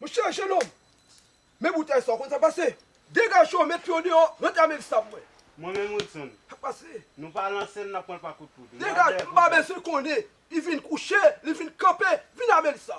Monchè jenòm, men boutèy sa ou konn sa k pase? Degaje w, met pye w deyò, rantre avm ev sa pou mwen. Mwen menm Wilson, Sa k pase? nou pa lanse l nan pwen pa kout poud. Degaje, m pa bezwen konnen. Li vin kouche, li vin kanpe, vin avm ev sa.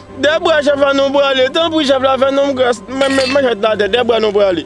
Dè bra chèf la nou prale. Tanpri chèf la fè nonm gras mwen met manchèt la atè dè bra nou prale.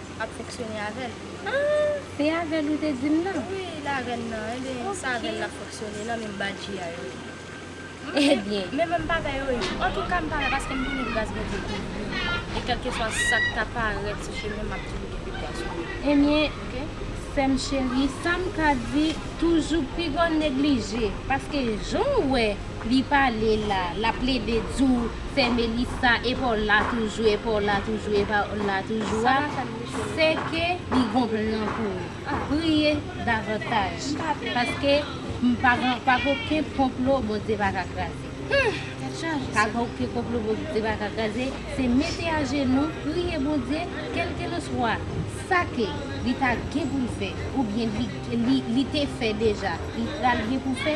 ap fonksyone avèl. Ah se avèl ou te dim nan. Wi la avèl nan ebyen sa avèl lap fonksyone nan menm badji a yo. Ebyen. Men menm bagay yo ye. Antouka mpa wè paskem konnen gras Bondye kouvrim e kelkeswa sak ta parèt sou chemenm map toujou gen vikwa sou li. Ebyen sèm cherie sam ka di toujou pi gwo neglije paske janw wè. Li pale la, lap plede di w fè Melissa epa w la toujou, epa w la toujou, epa w la toujou a, se ke li gon plan pou ou. Priye davantaj, paske pa gen oken konplo Bondye pa ka kraze. Pa gen oken konplo Bondye pa ka kraze, se mete ajenou, priye Bondye, kelkelanswa sa ke li ta gen pou l fè, oubyen li te fè deja, li pral gen pou fè,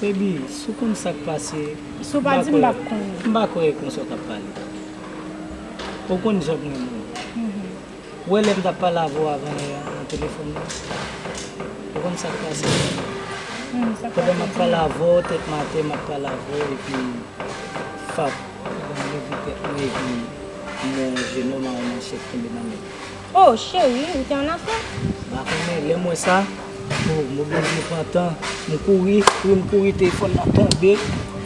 Baby, si w konn sa k pase, m pa kwè m pa kwè e kon sa w t ap pale. Ou konn jan m renmen w. Ou wè lè m t ap pale avè w avan yè a nan telefòn nan? Ou konn sa k pase? Pandan m ap pale avè w tèt m atè, m ap pale avè w epi fap ou ban m leve tèt mwen epi m wè yon jenòm a yon manchèt kenbe nan men l. Oh cheri ou te annafè? M pa konnen, lè m wè sa, oh m oblije pran tan, m kouri, kouri m kouri telefòn nan tonbe,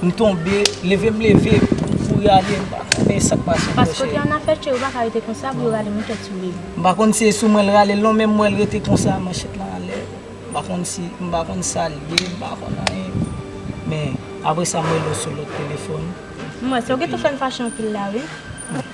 m tonbe, leve m leve, m kouri ale, m pa konnen sa k pase ankò cheri. Paske w te annafè cheri ou pa ka rete konsa pou yo rale manchèt sou li. M pa konn si e sou mwen l rale l non men m wè l rete konsa manchèt lan anlè, m pa konn si, m pa konn sa l ye, m pa konn anyen. Men apresa m wè l sou lòt telefòn. M wè sa, ou gen tan fè m fache anpil la wi.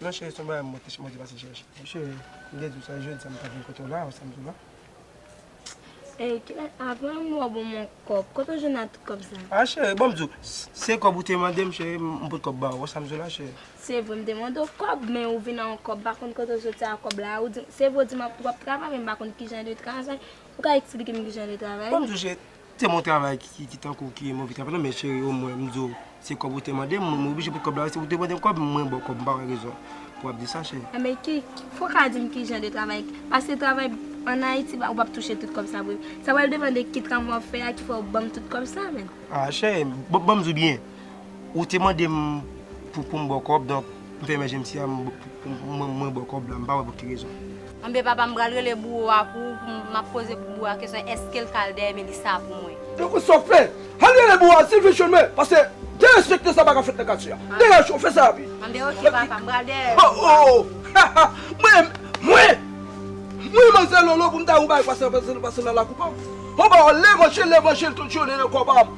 Non chérie son bagay mwen te pase chèche. Wi chérie m te diw sa jodi sa m ta vin kote w la ou sam diw la. Ey kilè avan m wè w banm yon kòb kote w jwenn a tout kòb sa. Ah chérie bon m diw se kòb ou te mande m chérie m pot kòb ba ou ou wè sam diw la chérie. Se vre m te mande w kòb men ou vin a yon kòb m pa konn kote w soti a kòb la ou dim se vre ou dim wap travay men m pa konn kijan de travay ou ka eksplike m kijan de travay. Bon m diw chérie. Se mwen travay ki tankou ki mwen vin travay men cheri o mwen m di w se kòb ou te mande m mwen oblije pou kòb la se ou te mande m kòb mwen ba w kòb m pa wè rezon pou ap di sa cheri. Enben ki fò w ka di m ki jan de travay paske travay an Ayiti ou pap touche tout kòb sa vre sa pral depande ki tram wap fè a ki fè w ban m tout kòb sa menn. A cheri m banm di w byen Ou te mande m pou pou m ba w kòb donk m fèmen je m si a m mwen ba w kòb la m pa wè pou ki rezon. Anben papa m pral rele bouwo a pou ou pou m ap poze bouwo a kesyon eske l ka al dèyè Melissa pou mwen. Donk ou sòfe? Al rele bouwo a di l vin jwenn mwen paske derespekte sa pa ka fèt nan katye a. Dèyè cho fè sa api. Anben ok papa m pral dèyè yo pou ou. Haha mwen mwen mwen manzè lolo pou m ta yon bagay pase nan lakou pa m. Anba w levanjil levanjil tout jounen nan kò pa m.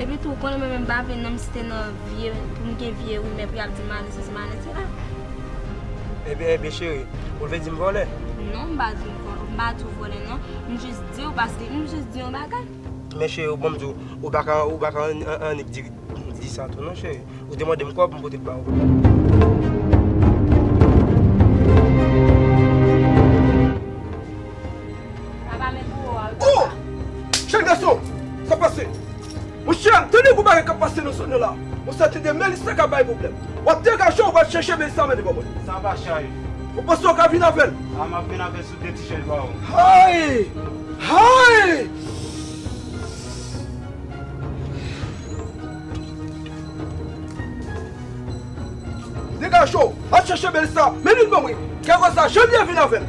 Epi tou ou konnen mwen menm m pa vle non m site non vye pou m gen vye rimè pou y ap di m ale sesi m ale sela. Ebyen ebyen cheri, ou vle di m vòlè? Non m pa di w m pa di w vòlè non, m jis di w paske m jis di yon bagay. Men cheri bon m di w, ou pa ka ou pa ka annik di di sa tou non cheri. Ou te mande m kòb m pote l ba ou. Papa men pou ou a wi papa. Oh! Jèn gason! Sa pase? Monchè, m tande gwo bagay k ap pase nan zòn nan la. Mwen santi de men li sa ka bay pwoblèm. W ap degaje w pral chèche men sa mennen ba mwen. Sa va Sharif. Ou panse w ka vin avè l? A m ap vin avè l sou de ti chèz ba ou. Hay! Hay! Degaje w, al chèche men sa mennen ba mwen. Kè konsa Janvyè vin avè l.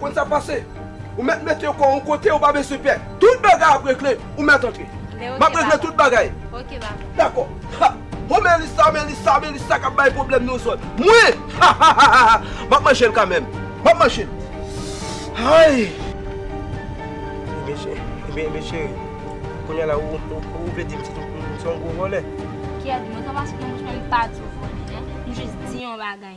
Konn sa pase, ou mèt mete kò yon kote ou pa bezwen pè. Tout bagay ap regle, ou mèt antre. Map regle tout bagay. Dakò. Ha! Ho Melissa, Melissa, Melissa kap bay pwoblèm nan yon zòn. Mwen! Hahahaha! Map manjel kanmenm. Map manjel. Hay! Ebyen cheri, ebyen ebyen cheri. Kounya la ou ou vle dim se yon gwo vòlè? Kèt, mwen ta pase nan bouch mwen mpa di w vòlè non. M jis di yon bagay.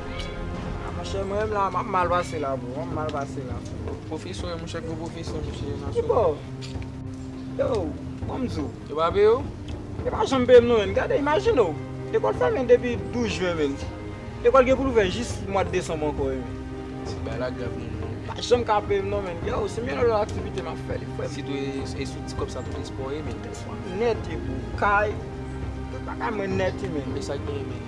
Monchè mwen menm la map mal pase la bro, map mal pase la bro. Pwofesè monchè gwo pwofesè monchè nan sou. Kibo? Yo, banm di w. Yo pa peye w? Yo pa janm peye m non menn. Gade imajine w, lekòl fèmen depi 12 jen menn. Lekòl gen pou l ouvè jis mwa de desanm ankò menn. Ti bagay la grav menn. Yo pa janm ka peye m non menn. Yo, se meyè nan lòt aktivite map fè li frè m. Sitou e sou ti kòb sa tout espò ye menn. Espò nèt ye bro. Kay, tout bagay mwen nèt ye menn. E sa k genyen menn?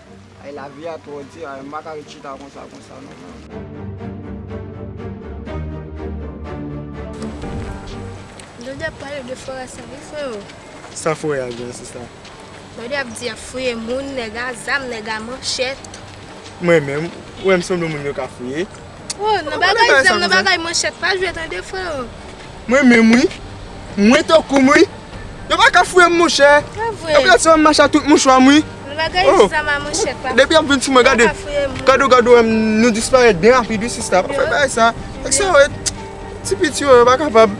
Ayy la vie a tro di ayy m paka ret chita konsa konsa non man. Jodi ap pale de forè sa wi freo. Sa forè a gen sista. Jodi ap di yap fouye moun nèg a zam nèg a manchèt. Mwen menm ou wèm sanble moun yo ka fouye. Ou nan bagay zam nan bagay manchèt pa jwe tande freo. Mwen menm wi. Mwen tankou m wi. Yo pa ka fouye m monchè. Yo ka ti wè m mache ak tout mouchwa m wi. Depi y ap vin sou mwen gade. Gade gade wè m nou disparèt byen rapid wi sista. Pa fè bagay sa. Nèg sa yo ret. Ti piti yo yo pa kapab.